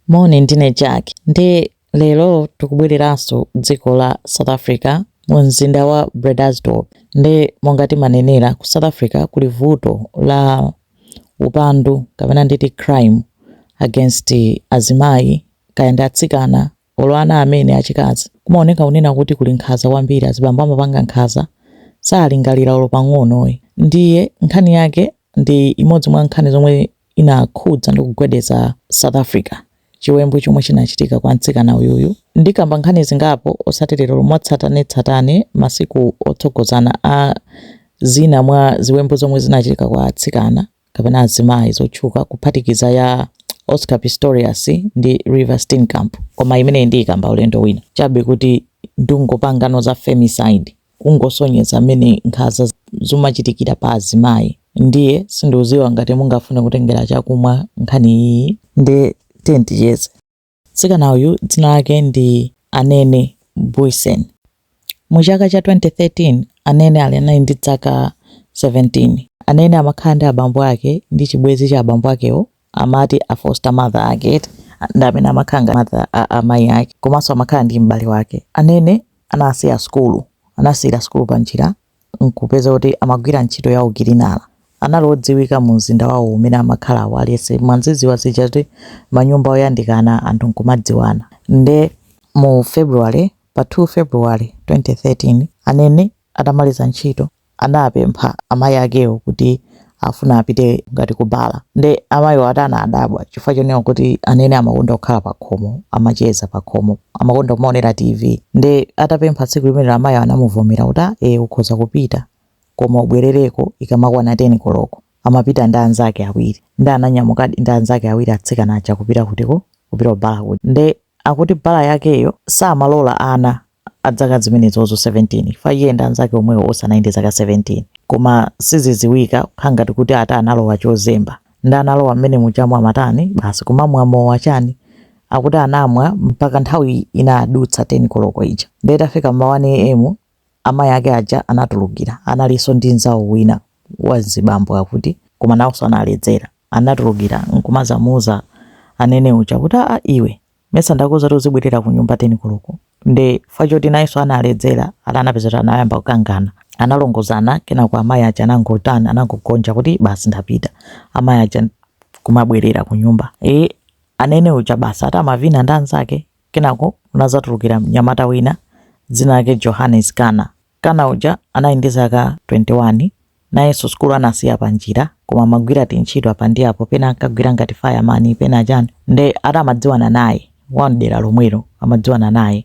Moni ndine Jack nde lero tikubwereranso dziko la South Africa mu mzinda wa Bredasdorp nde monga timanenera ku South Africa kuli vuto la upandu kapena nditi crime against azimayi kaya ndi atsikana Olo ana amene achikazi, kumaoneka kunena kuti kuli nkhaza kwambiri azibambo amapanga nkhaza salingalira olo pang'ono ayi ndiye nkhani yake ndi imodzi mwa nkhani zomwe inakhudza ndi kugwedeza South Africa chiwembu chomwe chinachitika kwa mtsikana uyuyu ndikamba nkhani zingapo osati lero mwatsatanetsatane masiku otsogozana a zina mwa ziwembu zomwe zinachitika kwa atsikana kapena azimayi zotchuka kuphatikiza ya Oscar Pistorius ndi Reeva Steenkamp koma imeneyi ndiyikamba ulendo wina chabe kuti ndikungopangano za femicide kungosonyeza mmene nkhaza zimachitikira pa azimayi ndiye sindikudziwa ngati mungafune kutengera chakumwa nkhani iyi nde tiyeni ticheze Mtsikana uyu dzina lake ndi Anene Booysen. Mu chaka cha 2013, Anene ali anali ndi dzaka 17. Anene amakhala ndi abambo ake ndi chibwezi cha abambo akewo amati a foster mother ake eti ndi amene amakhala ngati mother a amayi ake komanso amakhala ndi m'bale wake. Anene anasiya sukulu anasiyira sukulu panjira n'kupeza kuti amagwira ntchito ya ukilina. Anali odziwika mumzinda wawo umene amakhalawo. Aliyense mwazidziwa zija kuti manyumba oyandikana anthu n'kumadziwana. Nde mu February, pa 2 February 2013, Anene atamaliza ntchito anapempha amayi akewo kuti afuna apite ngati ku bala nde amayiwo ati anadabwa chifukwa chonena kuti Anene amakonda kukhala pakhomo amacheza pakhomo amakonda kumaonera TV nde atapempha tsiku limenelo amayi anamuvomera kuti "Ah, eh ukhoza kupita koma ubwerereko ikamakwana 10 koloko amapita ndi anzake awiri nde ananyamukadi ndi anzake awiri atsikana aja kupita kutiko kupita ku bala kuja nde akuti bala yakeyo samalola ana adzaka zimenezozo 17 chifukwa iye ndi anzake omwewo onse anali ndi zaka 17 koma sizidziwika kukhala ngati kuti ati analowa chozemba nde analowa mmene muchamu amatani basi kumamwa mowa chani akuti anamwa mpaka nthawi inadutsa 10 koloko ija ndiye itafika mma 1 am amayi ake aja anatulukira analinso ndi mzawo wina wa zibambo akuti koma nawonso analedzera anatulukira nkumazamuuza Anene uja kuti aa iwe mesa ndakuuza kuti uzibwerera kunyumba 10 koloko nde chifukwa choti nayenso analedzera ati anapeza kuti anayamba kukangana analongolozana kenako amayi aja anangotani anangogonja kuti basi ndapita amayi aja kumabwerera kunyumba e Anene uja basi ati amavina ndi anzake kenako kunazatulukira mnyamata wina dzina lake Johannes Kana Kana uja anali ndi zaka 21, nayenso sukulu anasiya panjira koma amagwira tintchito apa ndi apo pena ankagwira ngati fireman pena chani nde ati amadziwana naye wa mdera lomwelo amadziwana naye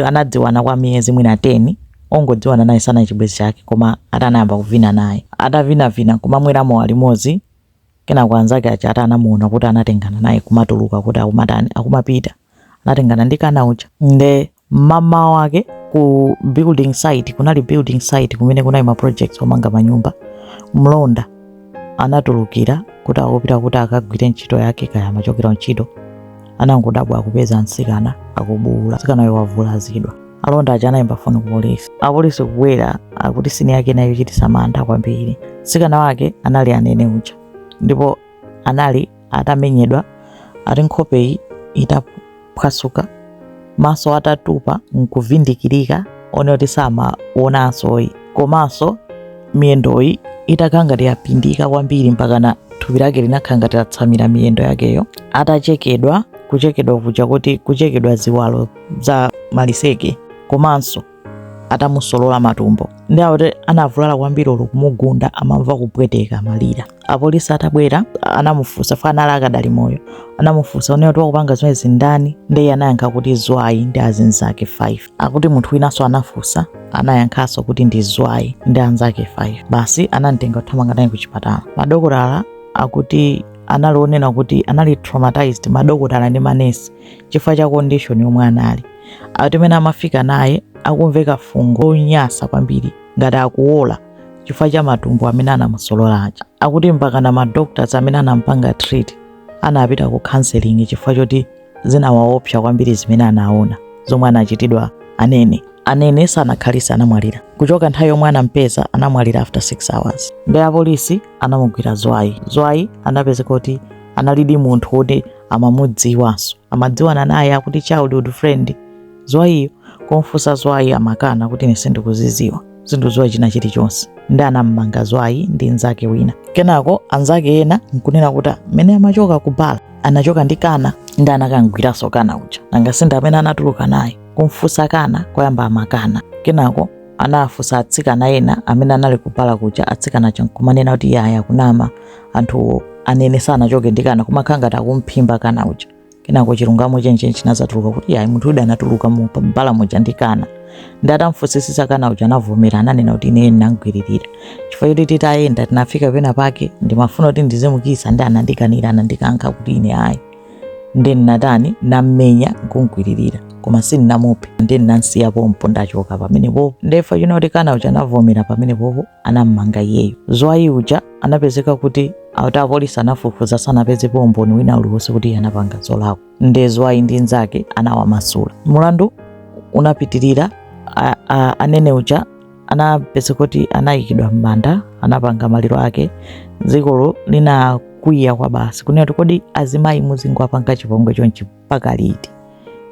anadziwana kwa miyezi mwina 10 ongodziwana naye sanali chibwenzi chake koma ati anayamba kuvina naye atavinavina kumamwera mowa limodzi Kenako anzake aja ati anamuona kuti anatengana naye kumatuluka kuti akumatani akumapita anatengana ndi kana uja nde mmamawa wake ku building site kunali building site kumene kunali ma projects omanga manyumba mlonda anatulukira kuti akupita kuti akagwire ntchito yake kaya amachokera ntchito anangodabwa akupeza mtsikana akubuula mtsikanayo wavulazidwa alonda aja anayimba foni ku polisi apolisi kubwera akuti sini yake inali yochititsa mantha kwambiri mtsikana wake anali anene uja ndipo anali atamenyedwa ati nkhopeyi itaphwasuka maso atatupa nkuvindikirika onena kuti samaonanso komanso miyendoyi itakhala ngati yapindika kwambiri mpakana thupi lake linakhala ngati latsamira miyendo yakeyo atachekedwa kuchekedwa kuja kuti kuchekedwa ziwalo za maliseche komanso atamusolola matumbo nde akuti anavulala kwambiri olo kumugunda amamva kupweteka amalira apolisi atabwera anamufunsa fa anali akadali moyo anamufunsa onena kuti wakupanga zimenezi ndani ndiye anayankha kuti zwayi ndi azinzake 5 akuti munthu winanso anafunsa anayankhanso kuti ndi zwayi ndi anzake 5 basi anamtenga kuthamanga naye kuchipatala madokotala akuti anali onena kuti anali traumatized madokotala ndi manesi chifukwa cha condition yomwe anali ati mmene amafika naye akumveka fungo lonyasa kwambiri ngati akuola chifukwa cha matumbo amene anamusolola aja akuti mpaka na madoctors amene anampanga treat anapita ku counseling chifukwa choti zinawaopsa kwambiri zimene anaona zomwe anachitidwa anene anene sanakhalitse anamwalira kuchoka nthawi yomwe anampeza anamwalira after 6 hours nde apolisi anamugwira zwayi zwayi anapezeka kuti analidi munthu woti amamudziwanso amadziwana naye akuti childhood friend zwayiyo kumfunsa zwayi amakana kuti ine sindikuziziwa sindikudziwa china chilichonse nde anammanga zwayi ndi nzake wina kenako anzake ena nkunena kuti mmene amachoka ku bala anachoka ndi kana nde anakamugwiranso kana uja nanga si ndi amene anatuluka naye kumfunsa kana koyamba amakana kenako anafunsa atsikana ena amene anali ku bala kuja atsikana aja nkumanena kuti yaya kunama anthu anene sanachoke ndi kana kumakhala ngati akumphimba kana uja kenako chilungamo chenicheni chinazatuluka kuti yayi munthu uyu anatuluka mu bala muja ndi kana ndi atamfunsisisa kana uja anavomera ananena kuti ine ndinamgwiririra chifukwa choti titayenda tinafika pena pake ndimafuna kuti ndizimukisa ndi anandikanira anandikankha kuti ine ayi ndi natani nammenya nkumgwiririra koma sindinamuphe ndi ndinamsiya pompo ndachoka pamenepopo nde zapachino kuti kana uja anavomera pamenepopo anam'manga iyeyo. Ziwayi uja anapezeka kuti akuti apolisi anafufuza sanapezepo umboni wina uliwonse kuti iye anapanga zolakwa. Nde Zwayi ndi nzake anawamasula. Mulandu unapitirira a- a- anene uja anapezeka kuti anayikidwa m'manda anapanga maliro ake dzikolo linakwiya kwa basi kunena kuti kodi azimayi muzingowapanga chipongwe chonchi mpaka liti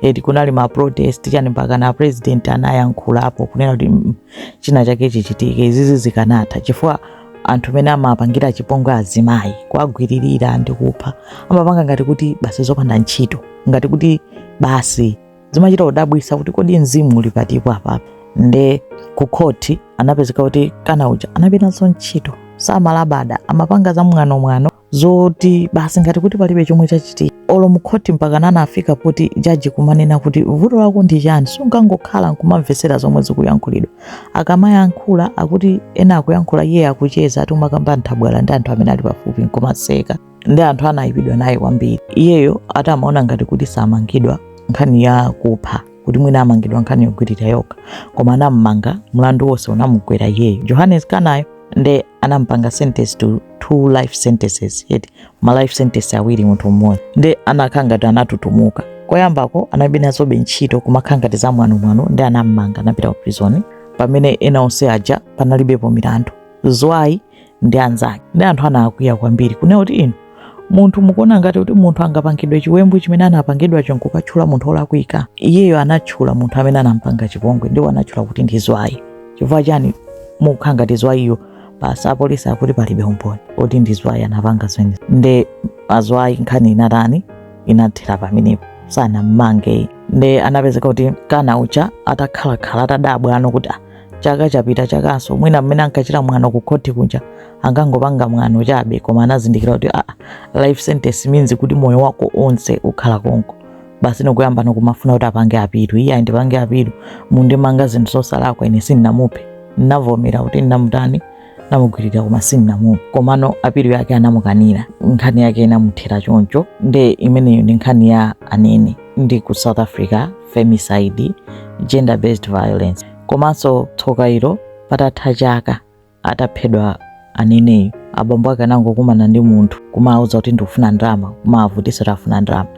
eti kunali ma protest chani mpaka na president anayankhulapo kunena kuti mm, china chake chichitike izizi zikanatha chifukwa anthu amene amapangira chipongwe azimayi kuwagwiririra ndi kupha amapanga ngati kuti basi zopanda ntchito ngati kuti basi zimachita kudabwisa kuti kodi mzimu uli patipo apapa nde ku khoti anapezeka kuti kana uja analibe nazo ntchito samalabada amapanga za mwano mwano zoti basi ngati kuti palibe chomwe chachitika olo mkhoti mpakana anafika poti jaji kumanena kuti vuto lako ndi chani sungangokhala nkumamvetsera zomwe zikuyankhulidwa akamayankhula akuti ena akuyankhula iye akucheza ati amakamba nthabwala ndi anthu amene ali pafupi nkumaseka ndi anthu anayipidwa naye kwambiri iyeyo ati amaona ngati kuti samangidwa nkhani ya kupha kuti mwina amangidwa nkhani yogwirira yokha koma anamumanga mlandu wonse unamugwera iyeyo johannes kanayo nde anampanga sentence to two life sentences yet ma life sentence awiri munthu mmodzi nde anakhala ngati anatutumuka koyambako analibe nazo ntchito kumakhala ngati za mwanomwano ndi anammanga anapita ku prison pamene ena onse aja panalibepo milandu zwayi ndi anzake ndi anthu anakwiya kwambiri kunena kuti inu munthu mukuona ngati kuti munthu angapangidwe chiwembu chimene anapangidwacho nkukatchula munthu olakwika iyeyo anatchula munthu amene anampanga chipongwe ndipo anatchula kuti ndi zwayi chifukwa chani mukukhala ngati zwayiyo basi apolisi akuti palibe umboni oti ndi zwayi anapanga zimene nde azwayi nkhani inatani inathera pamenepo sanammange nde anapezeka kuti kana uja atakhalakhala atadabwa no kuti "Ah, chaka chapita chakanso mwina mmene ankachita mwano ku khoti kuja ankangopanga mwano chabe koma anazindikira kuti ah, life sentence means kuti moyo wako onse ukhala konko basi nkuyamba no kumafuna kuti apange apilu iye ayi ndipange apilu munandimanga zinthu zosalakwa ine sindinamuphe ndinavomera kuti ndinamutani namugwirira koma sindinamuphe komano apilu yake anamukanira nkhani yake inamuthera choncho nde imeneyo ndi nkhani ya anene ndi ku south africa femicide gender based violence komanso tsokalo patatha chaka ataphedwa aneneyo abambo ake anangokumana ndi munthu kumawuza kuti ndikufuna ndalama kumawavutisa kuti afuna ndalama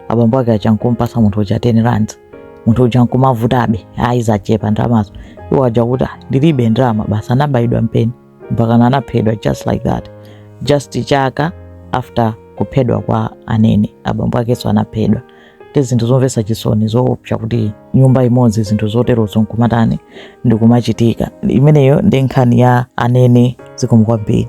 abambo ake aja nkumpasa munthu uja 10 rands munthu uja nkumavutabe ayi zachepa ndalamazo iwo aja kuti ndilibe ndalama basi anabayidwa mpeni mpaka anaphedwa just like that just chaka after kuphedwa kwa anene abambo akenso anaphedwa ndi zinthu zomvetsa chisoni zoopsa kuti nyumba imodzi zinthu zoterozo nkumatani nkumachitika imeneyo ndi nkhani ya anene zikomo kwambiri